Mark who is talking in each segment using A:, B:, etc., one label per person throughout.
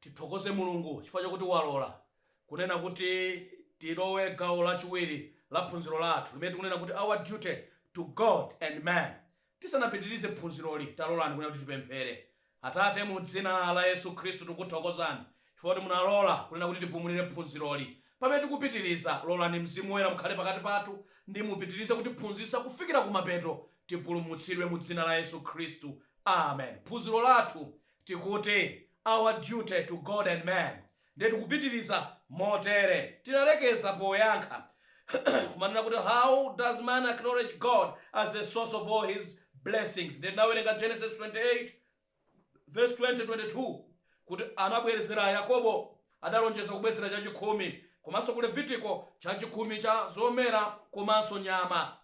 A: Tithokoze Mulungu chifukwa chakuti walola kunena kuti tilowe gawo lachiwiri la phunziro lathu limene tikunena kuti Our Duty to God and Man. Tisanapitirize phunziroli, talolani kunena kuti tipemphere. Atate, mu dzina la Yesu Khristu, tikukuthokozani chifukwa kuti munalola kunena kuti tipumulire phunziroli. Pamene tikupitiriza, lolani Mzimu Woyera mukhale pakati pathu ndi mupitirize kutiphunzitsa kufikira kumapeto tipulumutsidwe mu dzina la Yesu Khristu. Amen. Phunziro lathu tikuti, Our Duty to God and Man. Ndiye tikupitiriza motere. Tinalekeza poyankha kumanena kuti how does man acknowledge God as the source of all his blessings? Ndiye tinawerenga Genesis 28 vesi 20, 22 kuti anabwerezera Yakobo adalonjeza kubwezera chachikhumi komanso ku Levitiko chachikhumi cha zomera komanso nyama.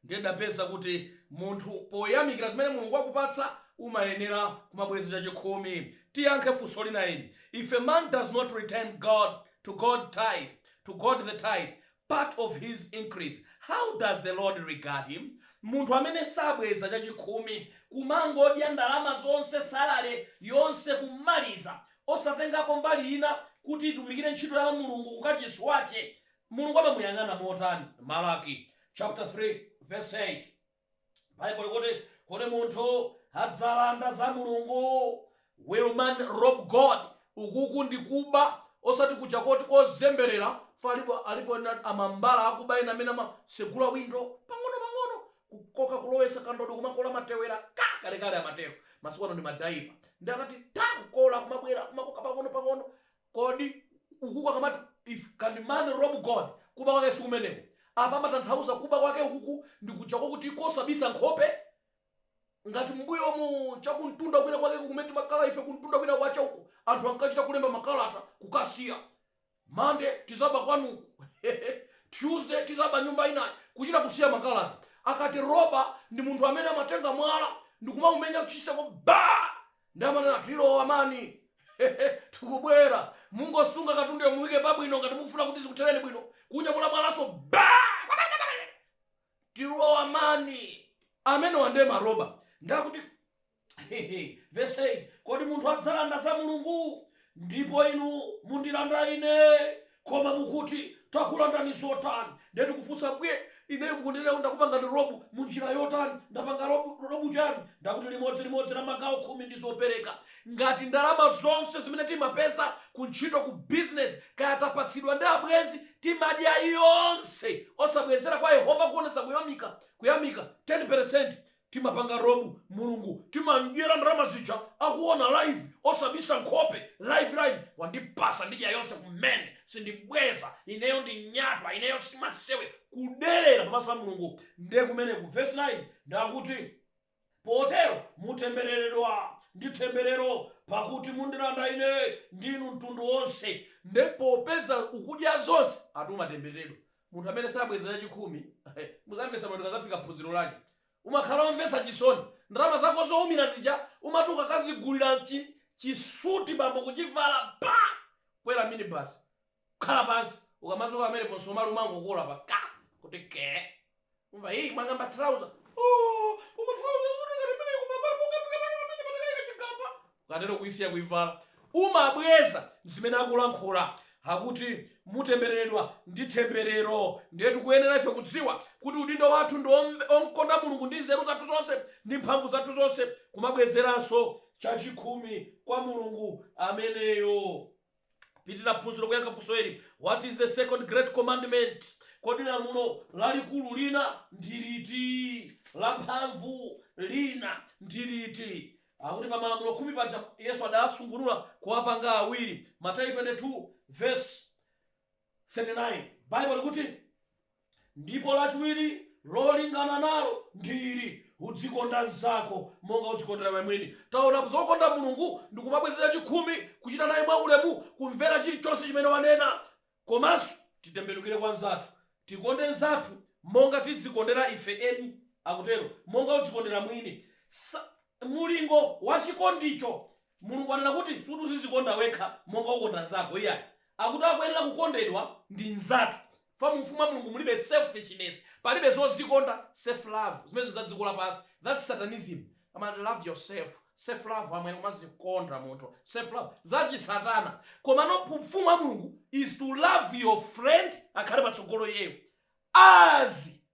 A: Ndiye tidapeza kuti munthu poyamikira zimene Mulungu wakupatsa umayenera kumabweza chachikhumi. Tiyankhe funso lina ili, If a man does not return God to God tithe, to God the tithe, part of his increase, how does the Lord regard him? Munthu amene sabweza chachikhumi, kumangodya ndalama zonse, salary yonse kumaliza, osatengapo mbali ina kuti itumikire ntchito ya Mulungu kukachisi wache, Mulungu amamuyang'ana motani? Malaki chaputala 3 vesi 8 Baibulo likuti, Kodi munthu adzalanda za Mulungu? Will man rob God? Ukuku ndi kuba osati kuja koti kozemberera chifukwa alipo alipo ena amambala akuba ena amene amasegula window pang'ono pang'ono kukoka kulowesa kandodo kumakola matewera ka! kalekale amateko masiku ano ndi ma diaper ndi akati tha! kukola kumabwera kumakoka pang'ono pang'ono Kodi ukuku akamati if can man rob God kuba kwake sikumeneko? Apa amatanthauza kuba kwake ukuku ndi kuja kwakuti kosabisa nkhope? Ngati mmbuyomu chakumtunda kwina kwakeku kumene timakhala ife kumtunda kwina kwache uko anthu ankachita kulemba makalata kukasiya Monday tidzaba kwanuku Tuesday tidzaba nyumba inayi kuchita kusiya makalata. Akati robber ndi munthu amene amatenga mwala ndikumaumenya chitseko baa! Ndikumanena tilowa man hehe tikubwera mungosunga katunduyo muike pa bwino ngati mukufuna kuti zikutheleni bwino kunyamula mwalanso baa kwapata pamenepa tilowa man amenewa nde ma robber nde akuti vesi 8 kodi munthu adzalanda za Mulungu Ndipo inu mundilanda ine, koma mukuti, Takulandani zotani? Ndiye tikufunsa, bwe, ineyo kukulandani ndakupangani rob mu njira yotani? Ndapanga rob, rob chani? Ndakuti limodzi limodzi la magawo khumi ndi zopereka. Ngati ndalama zonse zimene timapeza ku ntchito, ku business, kaya tapatsidwa ndi abwenzi, timadya yonse osabwezera kwa Yehova kuonetsa kuyamika, kuyamika, 10%. Timapanga rob mulungu timamdyera ndalama zija akuona live osabisa nkhope live live wandipasa ndidya yonse kumene sindibweza ineyo ndi nyatwa ineyo simasewera kuderera pamaso pa mulungu nde kumeneko verse 9 ndakuti potero mutembereredwa ndi temberero pakuti mundilanda ine ndi inu mtundu wonse nde popeza ukudya zonse ati umatembereredwa Munthu amene sabweza chachikhumi muzamvetsa bwino tikazafika phunziro lake. Umakhala omvetsa chisoni. Ndalama zako zoumira zija umati ukakazigulira chi chi suit bambo kuchivala pa! Kwera minibus. Khala pansi. Ukamadzuka pamenepo msomali umangokola pa ka! Kuti ke! Umva hii wang'amba trouser. Oh, koma trouser suri ngati mene koma pala pokapika pake pamene patakaye kachigamba. Ukatero kuisiya kuivala. Umabweza zimene akulankhula. Akuti mutembereredwa ndi temberero. Ndiye tikuyenera ife kudziwa kuti udindo wathu ndi omve- omkonda Mulungu ndi nzeru zathu zonse ndi mphamvu zathu zonse kumabwezeranso chachikhumi kwa Mulungu ameneyo. pitira phunziro kuyankha funso ili what is the second great commandment kodi lamulo lalikulu lina ndi liti la mphamvu lina ndi liti akuti pa malamulo khumi paja yesu adawasungunula kuwapanga awiri mateyu 22 verse 39 bible likuti Ndipo laciwili lolingana nalo ndi ili, Udzikonda mnzako monga udzikondela iwe mwini. Taonapo za kukonda Mulungu ndi kumabwezela cikhumi, kucita naye mwaulemu, kumvela ciliconse cimene wanena. Komanso titembenukile kwa mnzathu, tikonde mnzathu monga tidzikondela ife eni, akutelo, monga udzikondela mwini. Mulingo wa cikondico. Mulungu wanena kuti osati uzizikonda wekha monga ukonda mnzako iyai. Akuti akuyenela kukondedwa ndi mnzathu. fa mu ufumu wa Mulungu mulibe selfishness palibe zozikonda self love zimenezo za dziko lapansi that's satanism ama love yourself self love amwene umazikonda munthu self love za chisatana komano mu ufumu wa Mulungu is to love your friend akhale patsogolo iyeyo as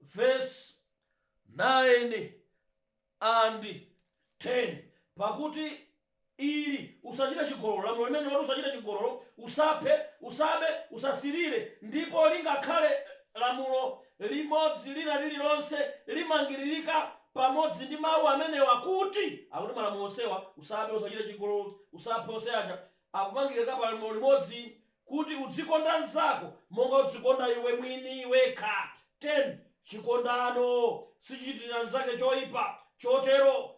A: vesi 9 and 10 pakuti ili usachite chigololo lamulo limene loti usachite chigololo usaphe usabe usasilire ndipo lingakhale lamulo limodzi lina lililonse limangiririka pamodzi ndi mawu amenewa kuti akuti malamulo onsewa usabe usachite chigololo usaphe onse aja akumangiririka pa lamulo limodzi kuti udzikonda mnzako monga udzikonda iwe mwini wekha, 10 chikondano sichichitira mnzake choipa, chotero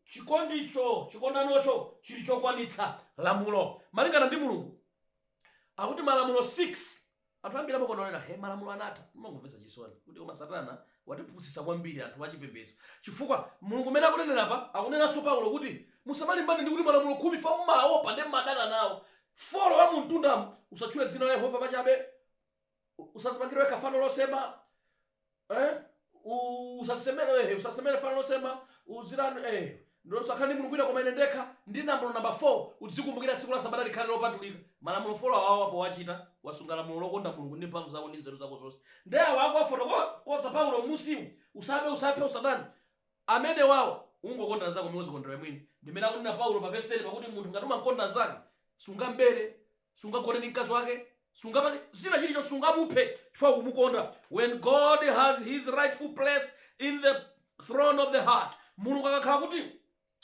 A: chikondicho, chikondanocho, chili chokwanitsa lamulo malingana ndi Mulungu. Akuti malamulo 6. Anthu ambiri amakonda kunena, He, malamulo anatha. Ndimangomvetsa chisoni kuti koma Satana watipusitsa kwambiri anthu achipembedzo chifukwa Mulungu mmene akunenera apa, akunenanso Paulo kuti, Musamalimbane ndi kuti malamulo khumi aja mumaopa ndi mmadana nawo. Folo wa mumtundamu, usatchule dzina la Yehova pachabe, usadzipangire wekha fano losema, eh, usadzisemere, eh, usadzisemere fano losema, uzirani, eh, ndo usakhale ndi mulungu wina koma ine ndekha, ndi lamulo namba 4, udzikumbukira tsiku la Sabata likhale lopatulika. Malamulo folo awawa powachita, wasunga lamulo lokonda Mulungu ndi mphamvu zako ndi nzeru zako zonse. Nde awa akuwafotokozza Paulo mmunsimu, usabe, usaphe, usaname, amene awawa ungokonda mzako momwe uzikondera mwini ndi mmene akunena paulo pa vesi 10 pakuti munthu ngati umamkonda mzako sungambere sungagone ndi mkazi wake sungapange china chilichonse sungamuphe chifukwa ukumukonda when god has his rightful place in the throne of the heart mulungu akakhala kuti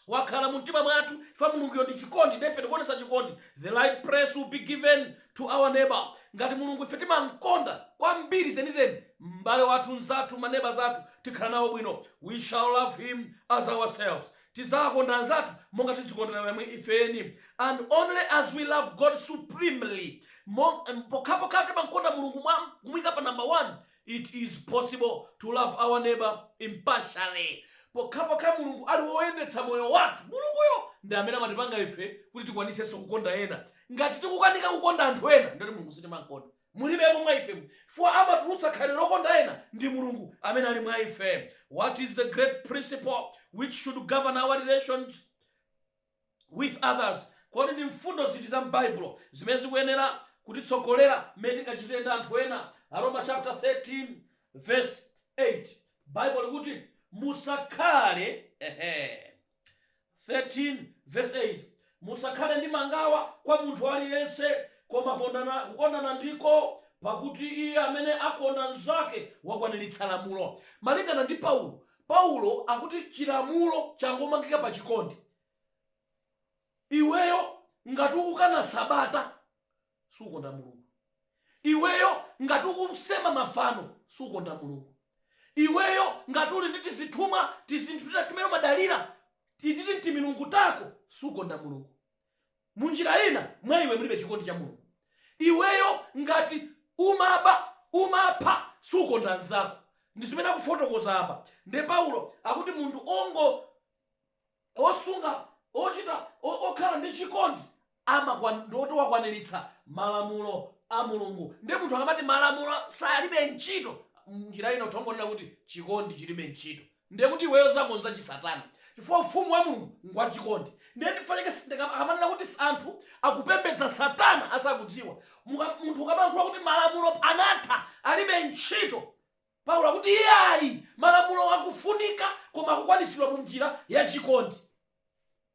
A: wakhala mu mtima mwathu chifukwa mulunguyo ndi chikondi ndiye ife tikuonetsa chikondi the right place will be given to our neighbour. Ngati Mulungu ife timamkonda kwambiri zenizeni m'bale wathu, mnzathu, maneba athu tikhala nawo bwino we shall love him as ourselves. Tidzawakonda anzathu monga tidzikondera ife eni and only as we love God supremely. Mong, pokhapokha timamkonda Mulungu mwa kumuika pa number 1. It is possible to love our neighbour impartially pokhapokha Mulungu ali woyendetsa moyo wathu. Mulunguyo ndi amene amatipanga ife kuti tikwanisenso kukonda ena. Ngati tikukanika kukonda anthu ena, ndiye kuti Mulungu sitimamkonda. Mulibemo mwa ifemo chifukwa amatulutsa khalidwe lokonda ena ndi Mulungu amene ali mwa ife. What is the great principle which should govern our relations? with others, Kodi ndi mfundo ziti za m'Baibulo zimene zikuyenera kutitsogolera mmene tingachitire ndi anthu ena? Aroma chapter 13 verse 8 Baibulo likuti, Musakhale ehe 13 verse 8 Musakhale ndi mangawa kwa munthu aliyense, koma kukondana ndiko pakuti iye amene akonda mnzake wakwaniritsa lamulo. Malingana ndi Paulo, Paulo akuti chilamulo changomangidwa pa chikondi. Iweyo ngati ukukana Sabata sukonda Mulungu. Iweyo ngati ukusema mafano sukonda Mulungu. Iweyo ngati uli ndi tizithumwa, tizinthu tina timene umadalira, titi timilungu tako sukonda Mulungu. Munjira ina mwa iwe mulibe chikondi cha Mulungu. Iweyo ngati umaba, umapha, sukonda nzako. Ndi zimene akufotokoza apa. Nde Paulo akuti munthu ongo osunga, ochita, okhala ndi chikondi ndiye kuti wakwaniritsa malamulo a Mulungu. Nde munthu akamati malamulo salibe ntchito, munjira ina utha kungonena kuti chikondi chilibe ntchito. ndiye kuti iweyo zako n'za chisatana chifukwa Ufumu wa Mulungu ngwachikondi. Ndiye nchifukwa chake akamanena kuti anthu akupembedza Satana asakudziwa. Munthu ukamalankhula kuti malamulo anatha, alibe ntchito, Paulo akuti iyayi, malamulo akufunika koma akukwanitsidwa munjira ya chikondi.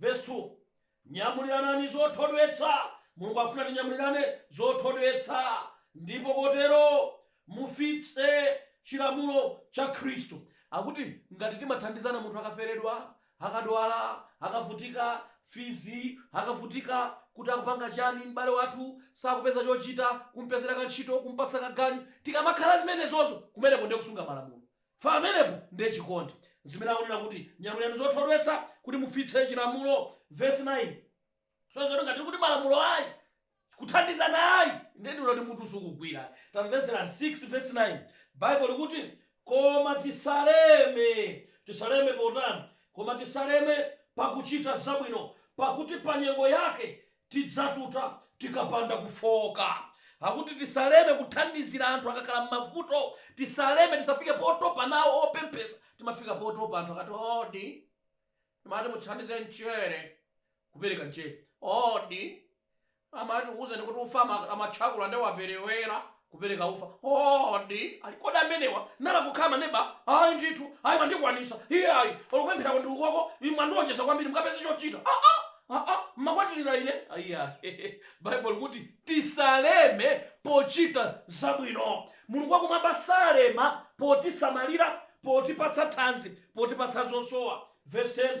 A: Vesi 2, Nyamuliranani zothodwetsa. Mulungu akufuna tinyamulirane zothodwetsa ndipo kotero mufitse chilamulo cha Khristu. Akuti ngati timathandizana munthu akaferedwa, akadwala, akavutika fizi, akavutika kuti akupanga chiyani, m'bale wathu sakupeza chochita, kumupezera kantchito, kumupatsa kaganyu. Tikamakhala zimenezozo, kumeneko ndiye kusunga malamulo. Pamenepo ndiye chikondi. Nzimene akunena kuti, Nyamulirani zothodwetsa, kuti mufitse chilamulo, vesi 9. So tsono ngati tikuti malamulo ayi, kuthandizana ayi, ndiye ndinati mutu sukugwira ayi. Tamvetserani 6 vesi 9. Bible likuti, Koma tisaleme. Tisaleme potani? Koma tisaleme pakuchita zabwino, pakuti pa nyengo yake Tidzatuta tikapanda kufooka. Akuti tisaleme kuthandizira anthu akakhala m'mavuto. Tisaleme, tisafike potopa nawo opemphetsa. Timafika potopa anthu akati odi. Amati mutithandize mchere, kupereka mchere. Odi. Amati tikuuzeni kuti ufa mmatchakula nde waperewera, kupereka ufa odi ali kodi amenewa nanga kukhala maneba ayi ndithu ayi mwandikwanitsa iyayi olo kupemphako ndi uko inu mwandiwonjeza kwambiri mukapeze chochita aa aa mumakwatirira ine iyayi bible likuti tisaleme pochita zabwino mulungu wakumwamba salema potisamalira potipatsa thanzi potipatsa zosowa vs 10.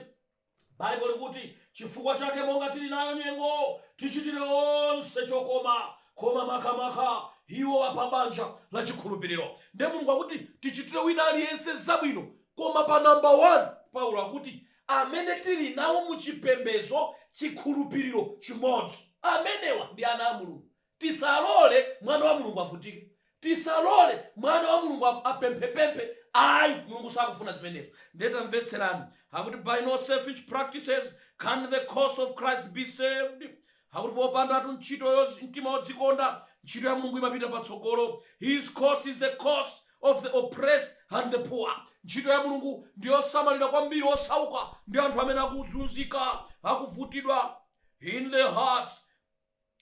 A: Bible likuti, chifukwa chake monga tili nayo nyengo, tichitire onse chokoma, koma makamaka iwo a pa banja la chikhulupiriro. Ndiye Mulungu akuti tichitire wina aliyense zabwino, koma pa number 1 Paulo akuti amene tili nawo mu chipembedzo, chikhulupiriro chimodzi. Amenewa ndi ana a Mulungu. Tisalole mwana wa Mulungu avutike. Tisalole mwana wa Mulungu apemphepemphe. Ayi, Mulungu sakufuna zimenezo. Ndiye tamvetserani, akuti by no selfish practices can the cause of Christ be served. Akuti popandatu ntchito yo, mtima wodzikonda, ntchito ya Mulungu imapita patsogolo. His cause is the cause of the oppressed and the poor. Ntchito ya Mulungu ndi yosamalira kwambiri osauka ndi anthu amene akuzunzika, akuvutitsidwa. In the hearts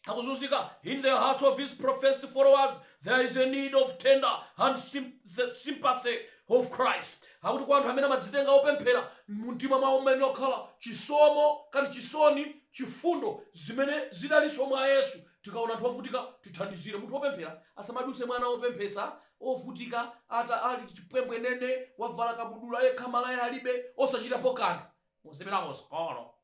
A: akuzunzika in the hearts of his professed followers there is a need of tender and sym- the sympathy of christ akuti kwa anthu amene amadzitenga opemphera mumtima mwawo muyenera kukhala chisomo kapena chisoni chifundo zimene zidalinso mwa yesu tikaona anthu ovutika tithandizire munthu opemphera asamaduse mwana opemphetsa, ovutika ali chipwembwenene wavala kabudula yekha malaya alibe osachitapo kanthu muzipita ku sikolo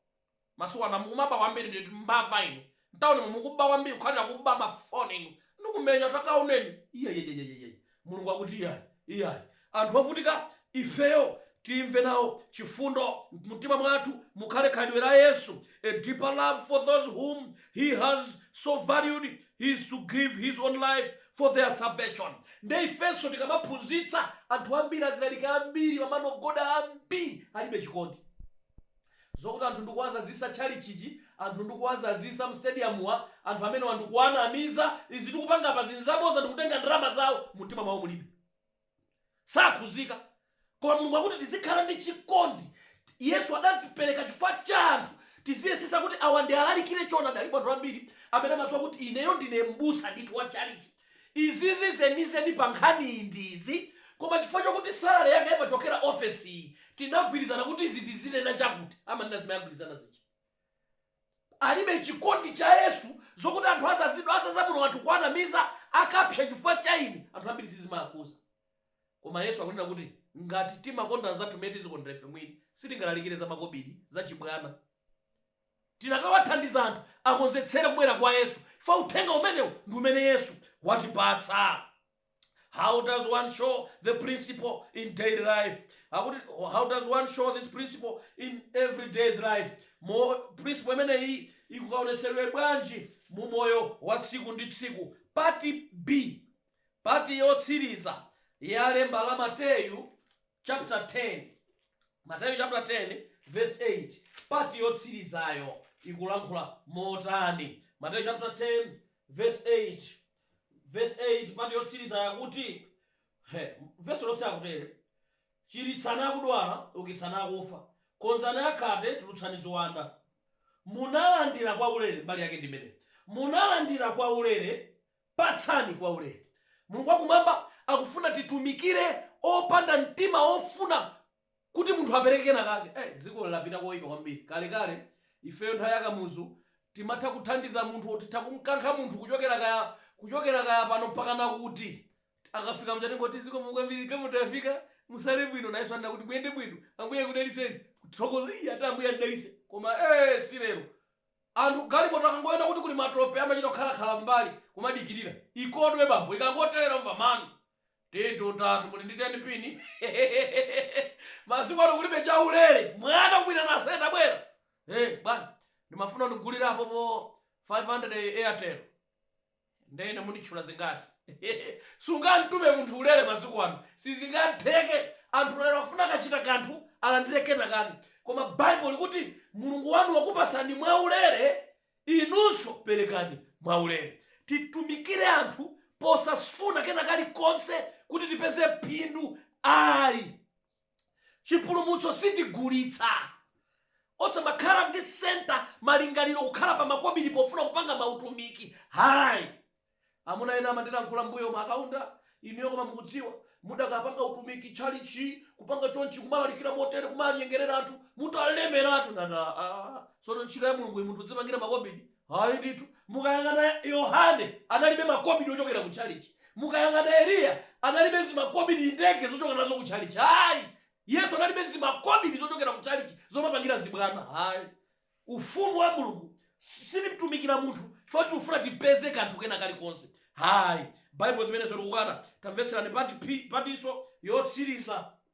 A: masiku ano mumaba kwambiri ndi mbava inu ntaunimu mukuba kwambiri kukhalira kuba mafoni inu ndikumenya takaoneni iyaiyaiyaiyaiyai mulungu akuti iyayi iyayi anthu ovutika ifeyo timve nawo chifundo mtima mwathu mukhale khalidwe la yesu a deeper love for those whom he has so valued as to give his own life for their salvation nde ifenso tikamaphunzitsa anthu ambiri alaliki ambiri ma man of god ambiri alibe chikondi Zokuti anthu ndikuwazazisa tchalitchichi,, anthu ndikuwazazisa mu stadium-mu, anthu amenewa ndikuwanamiza, izi tikupanga apazi, nzaboza ndikutenga ndalama zawo, mumtima mwawo mulibe. Sakhuzika. Koma Mulungu akuti tizikhala ndi chikondi. Yesu adazipereka chifukwa cha anthu. Tiziyesesa kuti awa ndialalikire choonadi. Alipo anthu ambiri amene amaziwa kuti ineyo ndine m'busa ndithu wa tchalitchi. Izizi zenizeni pa nkhaniyi ndi izi, koma chifukwa chokuti salary yanga imachokera office iyi tinagwirizana kuti izi tizinena chakuti, amanena zimene agwirizana zija. Alibe chikondi cha Yesu zokuti anthu azazidwa azaza muno anthu kuwanamiza akapsa chifukwa cha ine anthu ambiri sizimaakhuza. Koma Yesu akunena kuti ngati timakonda anzathu mmene timazikondera ife mwini sitingalalikire za makobidi, za chibwana. Tinakawathandiza anthu akonzetsere kubwera kwa Yesu chifukwa uthenga umenewu ndi umene Yesu watipatsa. How does one show the principle in daily life? How does one show this principle in every day's life? Mo, principle imeneyi ikukaonetseredwa bwanji mu moyo wa tsiku ndi tsiku? Pati B, pati yotsiriza ya lemba la Mateyu chapter 10 Mateyu chapter 10 verse 8 part yotsirizayo ikulankhula motani Mateyu chapter 10 verse 8
B: verse 8 part yotsirizayo kuti he, verse lonse likutere chiritsani akudwala ukitsani akufa konzani akhate tulutsani ziwanda munalandira kwa ulere mbali yake ndi imeneyi munalandira kwa ulere Patsani kwaulere. Mulungu wakumwamba akufuna titumikire opanda mtima wofuna kuti munthu apereke kenakake. Ei, dzikoli lapita koipa kwambiri. Kalekale, ifeyo nthawi ya Kamuzu, timatha kuthandiza munthu or titha kumkankha munthu kuchokera kaya kuchokera kaya pano mpaka nakuti. Akafika muja tingoti, zikomo kwambiri, galimoto yafika, musale bwino. Nayenso amvekere, muyende bwino, Ambuye akudalitseni. Kuthokoza, ii, ati Ambuye andidalitse. Koma ee, si lero. Anthu galimoto akangoona kuti kuli matope amachita kukhala khala mmbali kumadikilira ikodwe bambo ikangotelera umva man tilitu atatu muli ndi 10 pin hehehehehehe masiku ano kulibe chaulere mwana kumuitana aise tabwera hey bwana ndimafuna undigulire apopo 500 airtel Nde ine munditchula zingati? Sungamtume munthu ulere masiku ano sizingatheke anthu lero akufuna akachita kanthu alandire kena kake koma bible likuti Mulungu wanu wakupasani mwa ulere inunso perekani mwa ulere. Titumikire anthu posafuna kena kalikonse kuti tipeze phindu ayi. chipulumutso sitigulitsa. Osamakhala ndi center malingaliro kukhala pa makobidi pofuna kupanga mautumiki ai. Amuna ena amandilankhula mbuyomu a Kaunda inuyo koma mukudziwa mudakapanga utumiki tchalitchi kupanga chonchi kumalalikira motere kumanyengerera anthu mutalemeratu ndati aa sono ntchito ya Mulunguyi munthu udzipangira makobidi? Ayi ndithu. Mukayang'ana Yohane, analibe makobidi ochokera ku tchalitchi. Mukayang'ana Eliya, analibe zimakobidi, ndege zochokera nazo ku tchalitchi. Ayi. Yesu analibe zimakobidi zochokera ku tchalitchi zomapangira zibwana. Ayi. Ufumu wa Mulungu, sitimtumikira munthu chifukwa choti tikufuna tipeze kanthu kena kalikonse. Ayi. Baibulo zimenezo likukana. Tamvetserani part P, partnso yotsiriza.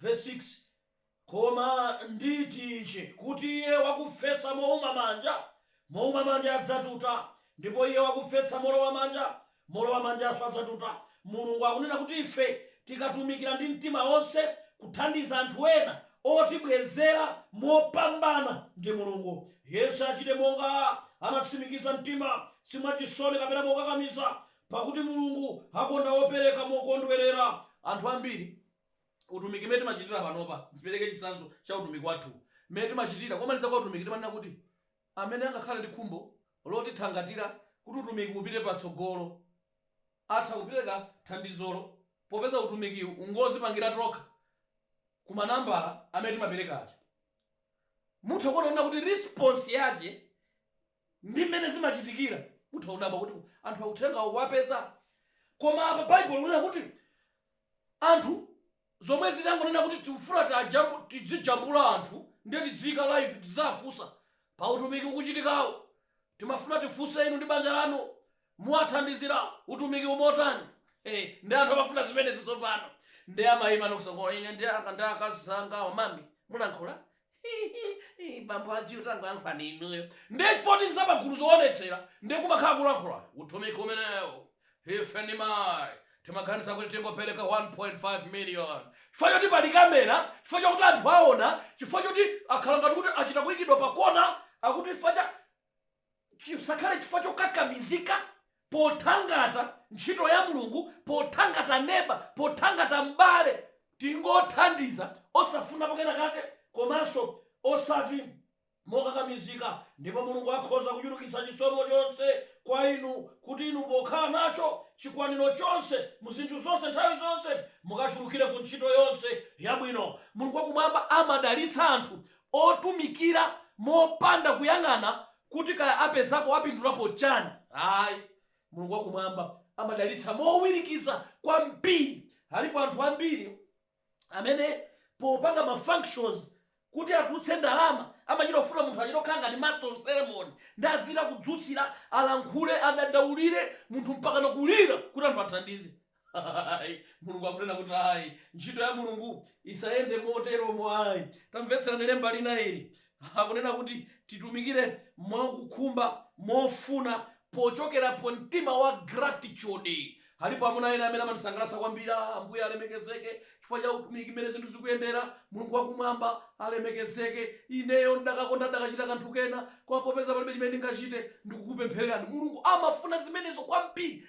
B: Vesi 6, Koma nditi ichi, kuti iye wakufesa mouma manja, mouma manja adzatuta, ndipo iye wakufesa molowa manja, molowa manjanso adzatuta. Mulungu akunena kuti ife tikatumikira ndi mtima wonse kuthandiza anthu ena, otibwezera mopambana ndi Mulungu. Yense achite monga anatsimikiza mtima, si mwachisoni kapena mokakamiza, Pakuti Mulungu akonda wopereka mokondwerera. Anthu ambiri, utumiki umene timachitira panopa, ndipereke chitsanzo cha utumiki wathuwu, mmene timachitira, komaliza kwa utumiki timanena kuti amene angakhale ndi khumbo lotithangatira kuti utumiki upite patsogolo atha kupereka thandizolo popeza utumikiwu n'ngozipangira tokha ku manambala amene timapereka aja. Mutha kuona kunena kuti response yake Ndi mmene zimachitikira. Mutha kudabwa kuti, Anthuwa uthengawo ukuwapeza? Koma apa Baibulo likunena kuti, Anthu zomwe zitangonena kuti tikufuna tidzijambula anthu ndiye tidziika live tidzawafunsa pa utumiki ukuchitikawu. Timafuna tifunse inu ndi banja lanu muwathandizira utumikiwu motani? Hee nde anthu amafuna zimenezi tsopano. Nde amaima ndi kusangoti, Ine ndi akazi anga amami mulankhula Hihihi bambo Haji utangoyankhulani inuyo nde chifukwa choti n'zapagulu zowonetsera nde kumakhala kulankhula utumiki umenewu ife ndi mayi timaganiza kuti tingopereka 1.5 million chifukwa choti pali camera chifukwa chakuti anthu awona chifukwa choti akhala ngati kuti achita kuyikidwa pakona akuti chifukwa cha Chisakhale chifukwa chokakamizika pothangata ntchito ya Mulungu, pothangata neba, pothangata m'bale. Tingothandiza osafunapo kena kake komanso osati mokakamizika ndipo Mulungu akhoza kuchulukitsa chisomo chonse kwa inu kuti inu pokhala nacho chikwaniro chonse mu zinthu zonse nthawi zonse mukachulukire ku ntchito yonse yabwino. Mulungu wa Kumwamba amadalitsa anthu otumikira mopanda kuyang'ana kuti kaya apezapo, apindulapo chani ayi. Mulungu wa kumwamba amadalitsa mowirikiza kwambiri. Alipo anthu ambiri amene popanga ma functions kuti atulutse ndalama amachita kufuna munthu achite kukhala ngati master of ceremony nde azichita kudzutsira, alankhule, adandaulire munthu mpakana kulira kuti anthu athandize. Ayi, Mulungu akunena kuti, Ayi, ntchito ya Mulungu isayende moteromo ayi. Tamvetserani Lemba lina ili. Akunena kuti titumikire mwa kukhumba, mofuna, pochokera pa mtima wa gratitude. Alipo amuna ena amene amandisangalatsa kwambiri. Ah, Ambuye alemekezeke chifukwa cha utumiki, mmene zinthu zikuyendera. Mulungu wa Kumwamba alemekezeke. Ineyo ndakakonda ndakachita kanthu kena, koma popeza palibe chimene ndingachite, ndikukupemphererani. Mulungu amafuna zimenezo kwambiri.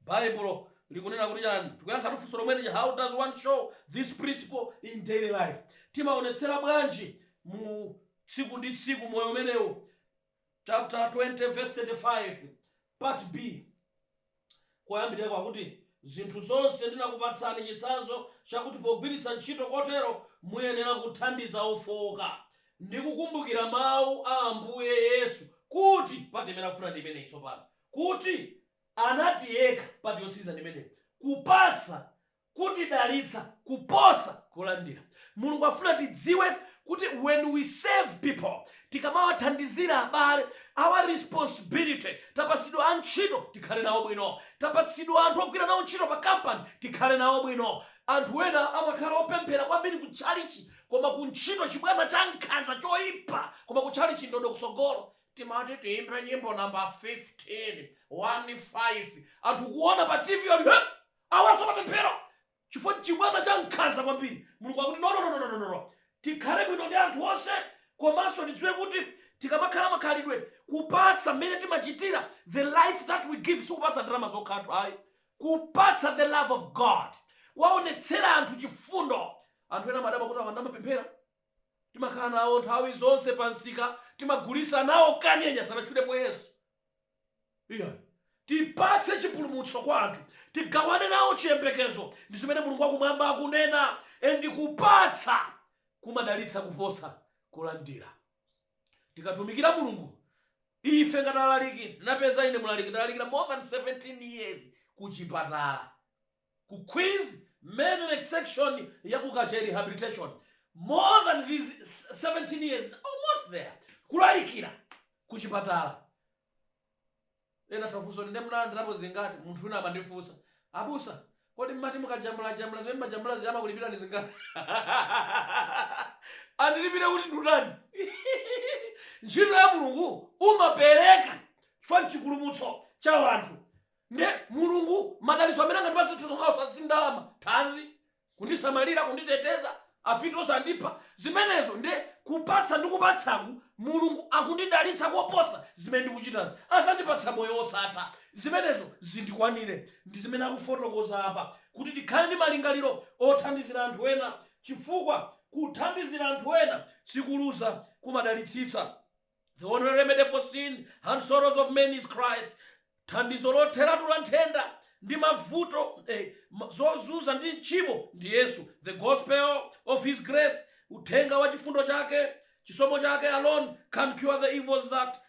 B: Baibulo likunena kuti chani? Tikuyankhatu funso lomwe lija, how does one show this principle in daily life? Timaonetsera bwanji mu tsiku ndi tsiku moyo umenewu? Chapter 20 verse 35 part B koyambirirako akuti, Zinthu zonse ndinakupatsani chitsanzo chakuti pogwiritsa ntchito kotero muyenera kuthandiza ofooka, ndi kukumbukira mawu a Ambuye Yesu kuti, part imene ndikufuna ndi imeneyi tsopano, kuti anati yekha part yotsiriza ndi imeneyi kupatsa kutidalitsa kuposa kulandira mulungu afuna tidziwe kuti when we serve people tikamawathandizira abale our responsibility tapatsidwa antchito tikhale nawo bwino tapatsidwa anthu ogwira nawo ntchito pa company tikhale nawo bwino anthu ena amakhala opemphera kwambiri ku tchalichi koma ku ntchito chibwana cha nkhanza choipa koma ku tchalichi ndodo kutsogolo timati tiimbe nyimbo number 15 1 5 anthu kuona pa tv ali awanso amapemphera chifukwa chibwana cha nkhanza kwambiri mulungu akuti no, no, no, no, no, no, no, no. tikhale bwino ndi anthu onse komanso tidziwe kuti tikamakhala makhalidwe kupatsa mmene timachitira the life that we give sikupatsa ndalama zokhatu ayi kupatsa the love of god kuwaonetsera anthu chifundo anthu ena amadabwa kuti awanso amapemphera Timakhala nawo nthawi zonse pa msika, timagulisa nawo kanyenya, sanatchulepo Yesu iyayi. Tipatse chipulumutso kwa anthu, tigawane nawo chiyembekezo, ndi zimene Mulungu wa Kumwamba akunena. And kupatsa kumadalitsa kuposa kulandira. Tikatumikira Mulungu, ife ngati alaliki, napeza ine mlaliki ndalalikira more than 17 years ku chipatala. Ku Queens Medical Section ya ku Kachere Rehabilitation, more than these 17 years, almost there, kulalikira ku chipatala. Ena atha kufunsa kuti nde munalandirapo zingati? Munthu wina amandifunsa, abusa, kodi mmati mukajambulajambula zimene mumajambula zija amakulipirani zingati? Andilipire kuti ndatani? Ntchito ya Mulungu umapereka chifukwa n'chipulumutso cha anthu. Nde mulungu madalitso amene angandipatse si okhawo osati ndalama, thanzi, kundisamalira, kunditeteza, afiti osandipha, zimenezo nde kupatsa ndi kupatsaku mulungu akundidalitsa koposa zimene ndikuchitazi azandipatsa moyo osatha zimenezo zindikwanire ndi zimene akufotokoza apa kuti tikhale ndi malingaliro othandizira anthu ena chifukwa kuthandizira anthu ena sikuluza kumadalitsitsa. The only remedy for sin and sorrows of men is Christ. Thandizo lotheratu la nthenda ndi mavuto eh, ma- zozunza ndi tchimo ndi Yesu. The gospel of his grace, uthenga wa chifundo chake, chisomo chake alone can cure the evils that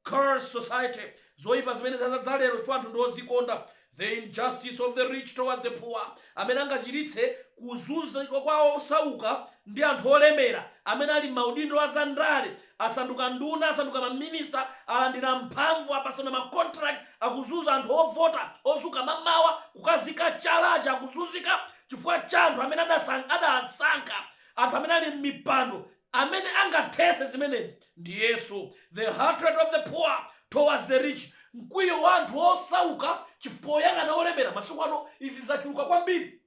B: curse society. Zoipa zimene zadzadza lero ife anthu ndi odzikonda The Injustice of the Rich Towards the Poor, amene angachiritse kuzunzika kwa osauka ndi anthu olemera, amene ali m'maudindo a zandale, asanduka nduna, asanduka maminista, alandira mphamvu, apatsana macontract, akuzunza anthu ovota, odzuka m'mamawa kukazika chala aja akuzunzika chifukwa cha anthu amene adasankha, anthu amene ali m'mipando Amene angathese zimenezi ndi Yesu. The hatred of the poor towards the rich, Mkwiyo wa anthu osauka chifukwa poyang'ana olemera, masiku ano izi zachuluka kwambiri.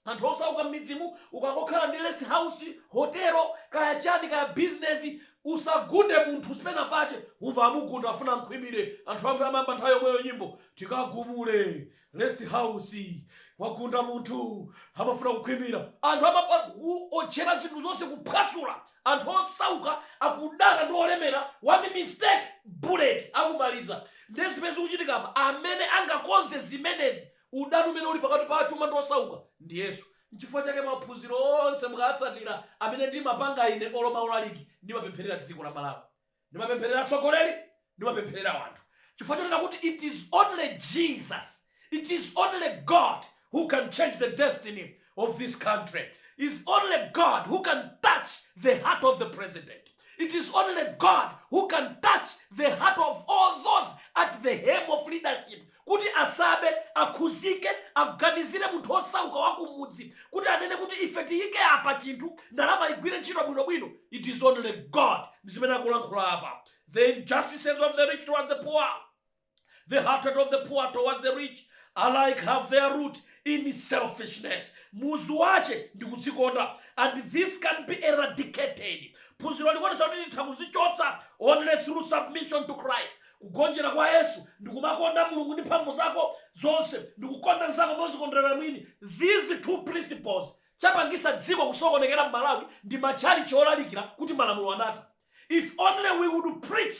B: Anthu osauka mmidzimu ukangokhala ndi rest house, hotelo, kaya chani kaya bizinezi usagunde munthu si penapake umva amugunda afuna amkhwimire. Anthu ambri amayamba nthawi yomweyo nyimbo tikagumule Rest house wagunda munthu amafuna kukhwimira. Anthu amaotcheratu zinthu zonse kuphwasula, anthu osauka akudana ndi olemera one mistake bullet akumaliza. Ndiye zimene zikuchitika apa amene angakonze zimenezi udani umene uli pakati pa achuma ndi osauka ndi Yesu. Nchifukwa chake maphuziro onse mukatsatira amene ndimapanga ine olo maulaliki ndimapempherera dziko la Malawi. Ndimapempherera atsogoleri, ndimapempherera anthu, chifukwa chonena kuti it is only Jesus, it is only God who can change the destiny of this country, is only God who can touch the heart of the president, it is only God who can touch the heart of all those at the helm of leadership kuti asabe, akhudzike, aganizire munthu wosauka wa kumudzi, kuti anene kuti ife tiyike apa chinthu, ndalama igwire ntchito bwino bwino, it is only God, ndi zimene akulankhula apa, the injustices of the rich towards the poor, the hatred of the poor towards the rich, alike have their root in selfishness, muzu wache ndi kudzikonda, and this can be eradicated, phunziro likuonesa kuti titha kuzichotsa only through submission to Christ, Kugonjera kwa Yesu ndikumakonda Mulungu ndi mphamvu zako zonse ndikukonda nzako mozikondera mwini, these two principles chapangisa dziko kusokonekera mmalawi ndi matchalichi olalikira kuti malamulo anatha, if only we would preach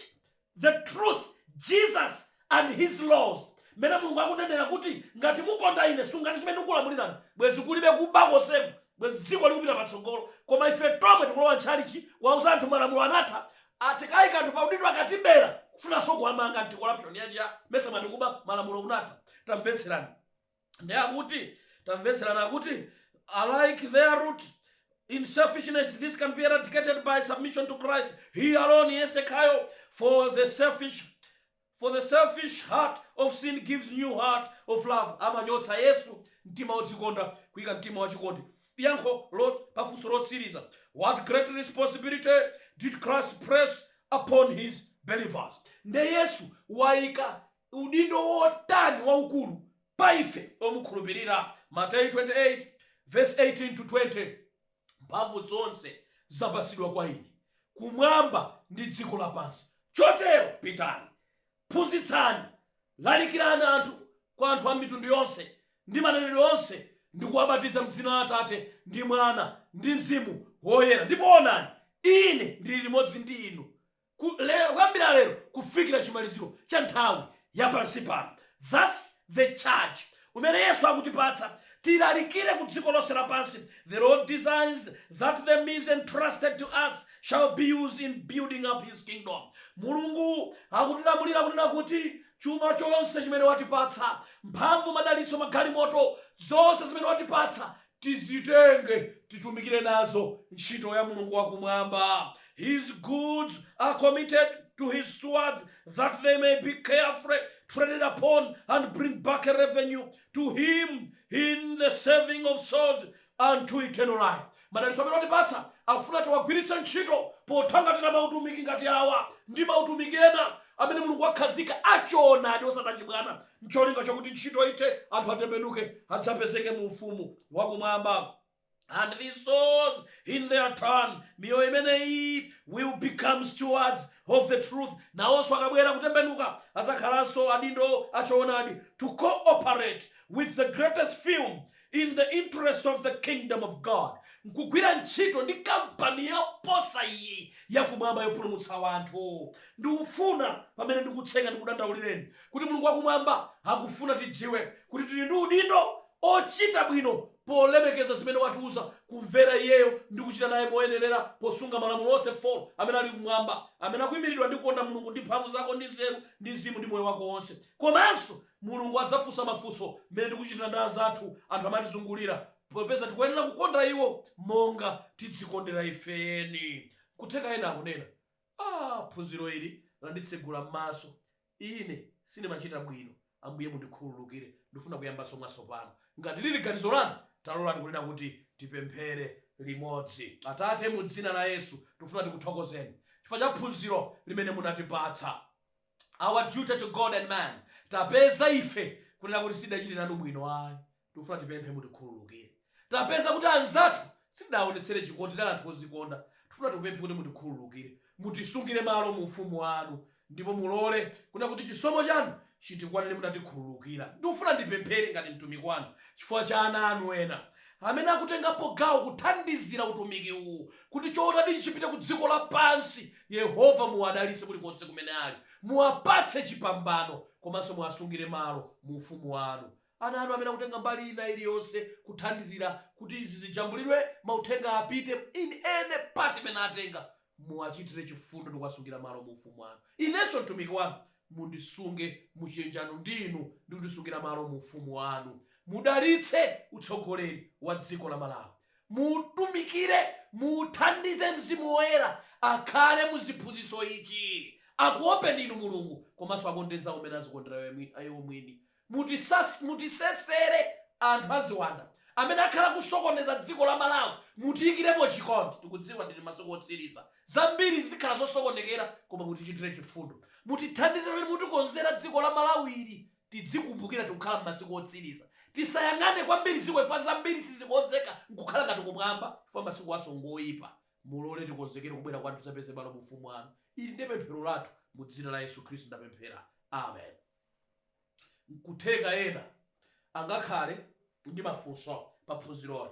B: the truth Jesus and his laws mmene Mulungu akunenera kuti ngati mukonda ine sungani zimene ndikukulamulirani bwezi kulibe kuba konsemu bwezi dziko likupita patsogolo koma ife tomwe tikulowa m'tchalichi kuwauza anthu malamulo anatha Tikaika anthu pa udindo akatibera kufunanso kuwamanga ndi corruption yanji amesa mwati kuba malamulo kunatha tamvetserani nde akuti tamvetserani akuti alike their root in selfishness this can be eradicated by submission to Christ he alone Yesu yekhayo for the selfish For the selfish heart of sin gives new heart of love, Amachotsa, Yesu, mtima wodzikonda, kuika mtima wa chikondi yankho la funso lotsiriza, What great responsibility did Christ place upon his believers? Nde Yesu waika udindo wotani waukulu pa ife omukhulupirira? Mateyu 28 verse 18 to 20. Mphamvu zonse zapatsidwa kwa Ine Kumwamba ndi dziko lapansi. Chotero pitani, phunzitsani, lalikirani anthu kwa anthu a mitundu yonse ndi manenedwe onse, ndi kuwabatiza m'dzina la Atate, ndi Mwana, ndi Mzimu Woyera, ndipo onani, Ine ndili limodzi ndi inu ku, le, kuyambira lero kufikira chimaliziro cha nthawi ya pansi pano. Thus the charge umene Yesu akutipatsa, tilalikire ku dziko lonse lapansi, The Lord designs that the means entrusted to us shall be used in building up His kingdom. Mulungu akutilamulira kunena kuti chuma chonse chimene watipatsa, mphamvu, madalitso, magalimoto, zonse zimene watipatsa tizitenge titumikire nazo ntchito ya Mulungu wa Kumwamba, His goods are committed to His stewards that they may be carefully traded upon and bring back a revenue to Him in the saving of souls unto eternal life. Madalitso amene watipatsa afuna tiwagwiritse ntchito pothangatira mautumiki ngati awa ndi mautumiki ena amene Mulungu wakhazika achoonadi osati achibwana n'cholinga chakuti ntchito ithe, anthu atembenuke, adzapezeke mu Ufumu wa Kumwamba, and these souls in their turn, miyoyo imeneyi, will become stewards of the truth, nawonso akabwera, kutembenuka, adzakhalanso adindo a choonadi, to co-operate with the greatest firm in the interest of the Kingdom of God, nkugwira ntchito ndi kampani yoposa iyi ya kumwamba yopulumutsa wanthu. Ndikufuna, pamene ndikutseka, ndikudandaulireni kuti Mulungu wa Kumwamba akufuna tidziwe kuti tiri ndi udindo ochita bwino polemekeza zimene watiuza, kumvera Iyeyo ndi kuchita naye moyenerera posunga malamulo onse 4 amene ali kumwamba, amene akuimilidwa ndi kukonda Mulungu ndi mphamvu zako ndi nzeru ndi mzimu ndi moyo wako wonse, komanso Mulungu adzafunsa mafunso mmene tikuchitira ndi anzathu, anthu amene atizungulira, popeza tikuyenera kukonda iwo monga tidzikondera ife eni. Nkutheka ena akunena, Ah, phunziro ili landitsegula mmaso. Ine sindimachita bwino. Ambuye mundikhululukire. Ndifuna kuyambanso mwatsopano. Ngati liri ganizo lanu, talolani kunena kuti tipemphere limodzi. Atate, mu Dzina la Yesu, tikufuna tikuthokozeni chifukwa cha phunziro limene munatipatsa. our duty to God and man tapeza ife kunena kuti sitidachite nanu bwino ayi tikufuna tipemphe mutikhululukire tapeza kuti anzathu sitidaonetsere chikondi tidali anthu ozikonda tikufuna tipemphe kuti mutikhululukire mutisungire malo mu ufumu wanu ndipo mulole kunena kuti chisomo chanu chitikwanire mutatikhululukira ndikufuna ndipemphere ngati mtumiki wanu chifukwa cha ana anu ena amene akutengapo gawo kuthandizira utumiki uwu kuti choonadi chipite ku dziko lapansi Yehova, muwadalitse kulikonse kumene ali. Muwapatse chipambano komanso muwasungire malo mu Ufumu wanu. Ana
A: anu amene akutenga mbali ina iliyonse kuthandizira kuti izi zijambulidwe, mauthenga apite, in any part imene atenga, muwachitire chifundo ndi kuwasungira malo mu Ufumu wanu. Inenso mtumiki wanu mundisunge mu chiyanjano ndi Inu ndi kundisungira malo mu Ufumu wanu. Mudalitse utsogoleri wa dziko la Malawi. Muutumikire, muuthandize Mzimu Woyera akhale mu ziphunzitso ichi, akuopeni ndinu Mulungu, komanso akonde anzawo mmene azikondera iwo mwini. Mutisesere anthu a ziwanda amene akhala kusokoneza dziko la Malawi, mutiikiremo chikondi, tikudziwa tili masiku otsiriza, zambiri zikhala zosokonekera, koma mutichitire chifundo. Mutithandize pamene mutikonzera dziko la Malawi ili Tidzikumbukira tikukhala mmasiku otsiliza. Tisayang'ane kwambiri dziko chifukwa zambiri sizikonzeka nkukhala ngati kumwamba chifukwa masikuwaso ngoipa. Mulole tikonzekere kubwera kwanu tidzapeze malo mu ufumu wanu. Ili ndi pemphero lathu mu dzina la Yesu Khristu ndapemphera. Amen. Nkutheka ena angakhale ndi mafunso pa phunziroli.